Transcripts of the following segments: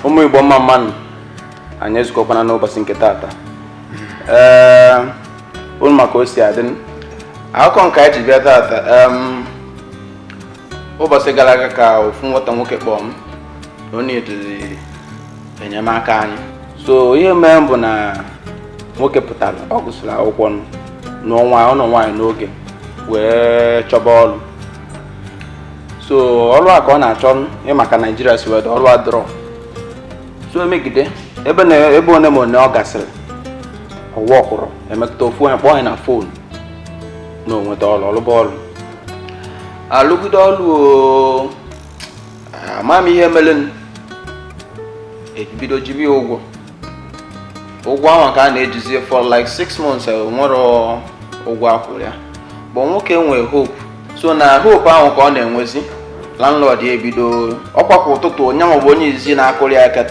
ụmụ igbo mma mma nụ anyị ezukọkwana n'ụbọchị nke taata ee unu ma ka o si adị akụkọ nke anyị ji bịa taata em, ụbọchị gara aga ka ofu nwata nwoke kpọọ m na ọ needịrị enyemaka anyị so ihe mere bụ na nwoke pụtara ọ gụsịrị akwụkwọ na ọ nwa ọ nụ nwaanyị n'oge wee chọba ọrụ so ọrụ a ka ọ na-achọ ị ma ka naijiria si wee dị ọrụ adịrọ so e megide ebe na ebe one ma one ọ gasịrị ọ workụrọ e mekata ofu onye kpọọ nya na phone na o nweta ọrụ ọ lụba ọrụ alụgide ọrụ ama m ihe merenụ e bido jibe ya ụgwọ ụgwọ ahụ ka a na-ejizi ya for like six months enwerọ ụgwọ a kwụrụ ya but nwoke enwee hope so na hope ahụ ka ọ na-enwezi landlord ya ebido ọkwa kwa ụtụtụ nya nwa bụ onye izizi na-akụrụ ya aka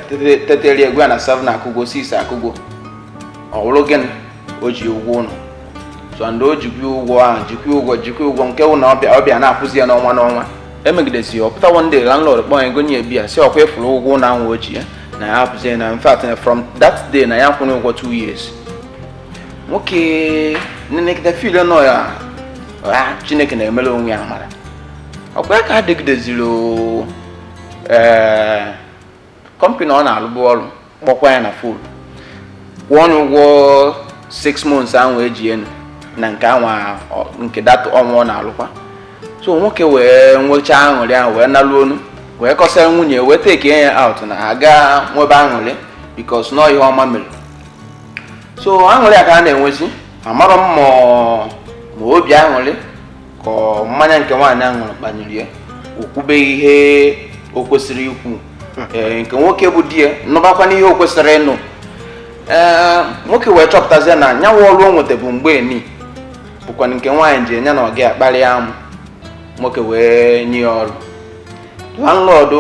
tetere egwa ya na 7 akụgo 6 akụgo ọ wụrụ gịnị o ji ụgwọ ụlọ sọnde o jikwa ụgwọ ahụ jikwa ụgwọ jikwa ụgwọ nke ụlọ ọ bịa ọ bịa na-akwụzi ya n'ọnwa n'ọnwa e megidesie ya ọ pụta one day landlord kpọọ ya gonye ya beer sị ọkwa ị fụrụ ụgwọ ụlọ ahụ o ji ya na ya hapụzie na in fact na from that day na ya kwụrụ ụgwọ two years nwoke nenegide feel na ọ ya ha chineke na-emere onwe ya amarọ ọkwa ya ka a dịgideziri ee company ọ na-alụbụ ọrụ kpọkwa ya na phone kwụọnụ ụgwọ 6 months ahụ e ji ya nụ na nke anwa nke that ọnwa ọ na-alụkwa so nwoke wee nwechaa aṅụrị ahụ wee nalu ụnọ wee kọsara nwunye wee take ya out na ha gaa nwebe aṅụrị because na ihe ọma mere so aṅụrị a ka a na-enwezi amarọ m ma obi aṅụrị ka mmanya nke nwaanyị ahụ ṅụrụ kpanyere ya o kwube ihe o kwesịrọ ikwu ee nke nwoke bụ di ya nụbakwanụ ihe o kwesịrọ ịnụ ee nwoke wee chọpụtazie na nya wụ ọrụ o nweta bụ mgbe eni bụkwa nke nwaanyị jee nya na ọga kparịa amụ nwoke wee nye ya ọrụ landlord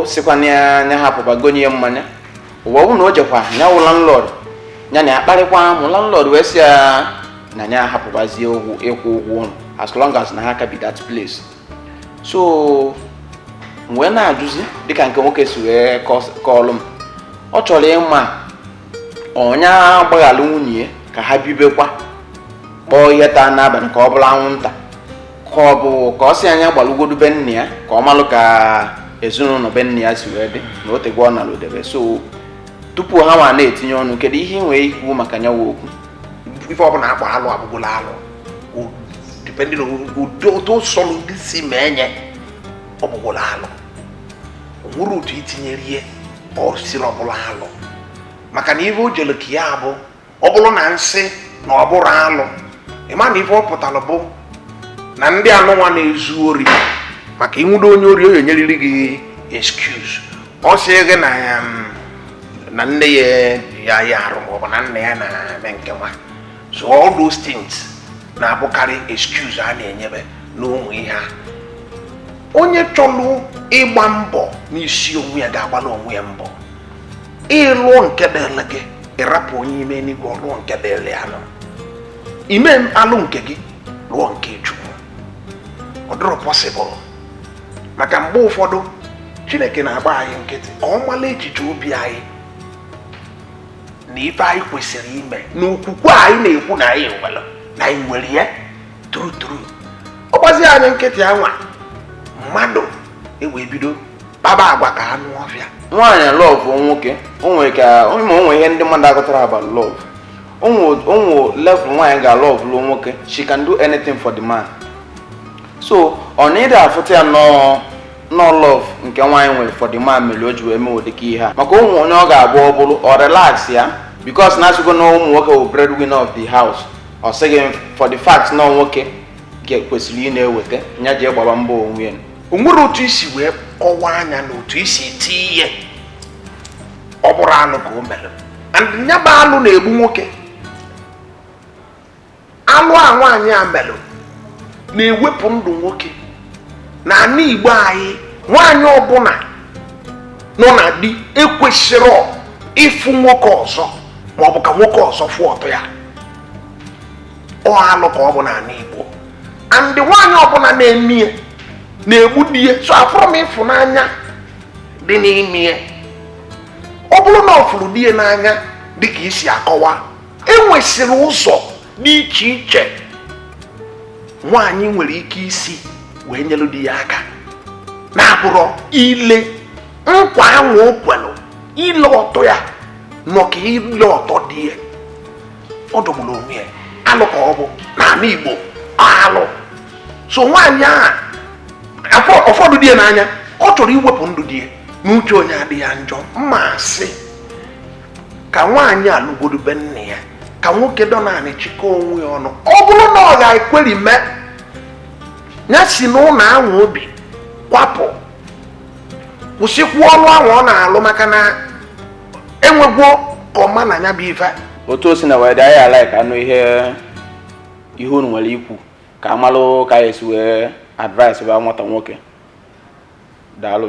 sịkwanụ ya nya hapụba gonye ya mmanya anwa ọ bụ na o jekwa nya wụ landlord nya na ya kparịkwa amụ landlord wee sị ya na ya hapụbazie ụgwọ ịkwụ ụgwọ ụlọ as long as na ha ka bi that place so m wee na-ajụzi dịka nke nwoke si wee kọs- kọọlụ m ọ chọrọ ịma ọ nya gbaghara nwunye ya ka ha bibekwa kpọọ ihe taa n'abalị ka ọ bụrụ anwụnta ka ọ bụ ka ọ sị nya gbalụgodu be nne ya ka ọ malụ ka ezinụlọ be nne ya si wee dị na o tego ọ nalụdebe so tupu ha nwa na-etinye ọnụ kedu ihe ị nwere ikwu maka nya wụ okwu ife ọbụna akpọ alụ abụgolo alụ depending on ụdị otu sọlụ ndị si ma enye ọ bụgolo alụ o nwerọ otu itinyere ihe ọ siri ọbụla alụ maka na ife o jere ka ya bụ ọ bụrụ na nsị na ọ bụrọ alụ ịma na ife ọ pụtara bụ na ndị anụnwa na-ezu ori maka ịnwụdo onye ori ọ ya-enyeriri gị excuse ọ sị gị na ya um, na nne ya ya ya arụ ma ọ bụ na nna ya na-eme nke nwa so all those things na-abụkarị excuse a na-enyebe n'ụmụ ihe a onye chọrọ ịgba mbọ n'isi onwe ya ga-agbara onwe ya mbọ ịlụọ nke dịrị gị ịrapụ onye ime n'igwe ọlụọ nke dịrị ya na ị ma-alụ nke gị lụọ nke chukwu ọ dịrọ possible maka mgbe ụfọdụ chineke na-agba anyị nkịtị ka ọ mala echiche obi anyị na ife anyị kwesịrị ime na okwukwe anyị na-ekwu na anyị nwere na anyị nwere ya true true ọ gbazi anyị nkịtị anwa mmadụ ewee bido kpaba agwa ka anụ ọfịa nwaanyị love nwoke o nwere ka ma o nwere ihe ndị mmadụ aghọtarọ about love o nwe level nwaanyị ga-alọvụlu nwoke she can do anything for the man so ọ na ịdị afụta ya na ọ love nke nwaanyị nwere for the man mere o ji wee mewo dịka ihe a maka o nwe onye ọ ga-abụ ọ bụrụ ọ relax ya because na asịgo na ụmụ nwoke bụ breadwinner of the house ọ sị gị for the fact na nwoke kwesịrị ị na-eweta nya jee gbaba mbọ onwe ya o nwere otu isi wee kọwaa anya na otu isi tie ihe ọ bụrụ alụ ka o mere and ya bụ alụ na-egbu nwoke alụ a nwaanyị a melụ na-ewepụ ndụ nwoke na ana igbo anyị nwaanyị ọbụna nọ na di ekwesirọ ịfụ nwoke ọzọ ma ọ bụ ka nwoke ọzọ fụ ọtọ ya ọ alụ ka ọ bụ n'ana igbo and nwaanyị ọbụna na-eme ya na-egbu di ya so afụrọ m ịfụnanya dị n'ime ya ọ bụrụ na ọ fụrụ di ya n'anya dịka isi akọwa enwesịrị ụzọ dị iche iche nwaanyị nwere ike isi wee nyere di ya aka na-abụrọ ile nkwa anwa o kwelụ ile ọtọ ya nọ ka ile ọtọ di ya ọ dọgburu onwe ya alụ ka ọ bụ n'ala Igbo alụ so nwaanyị a ọ fụlụ di ya n'anya ka ọ chọrọ iwepụ ndụ di ya n'uche onye adịghị ya njọ ma a sị ka nwaanyị a lagodu be nne ya ka nwoke dọ naanị chịkọ onwe ya ọnụ ọ bụrụ na ọ ga-ekweri mee ya si n'ụnọ ahụ o bi kwapụ kwụsịkwuo ọrụ ahụ ọ na-alụ maka na enwegwo ka ọma na nya bụ ife otu o si na wee dị anyị a-like ịnụ ihe ihe unu nwere ikwu ka a malụ ka anyị esi wee advice bụ nwata nwoke daalụ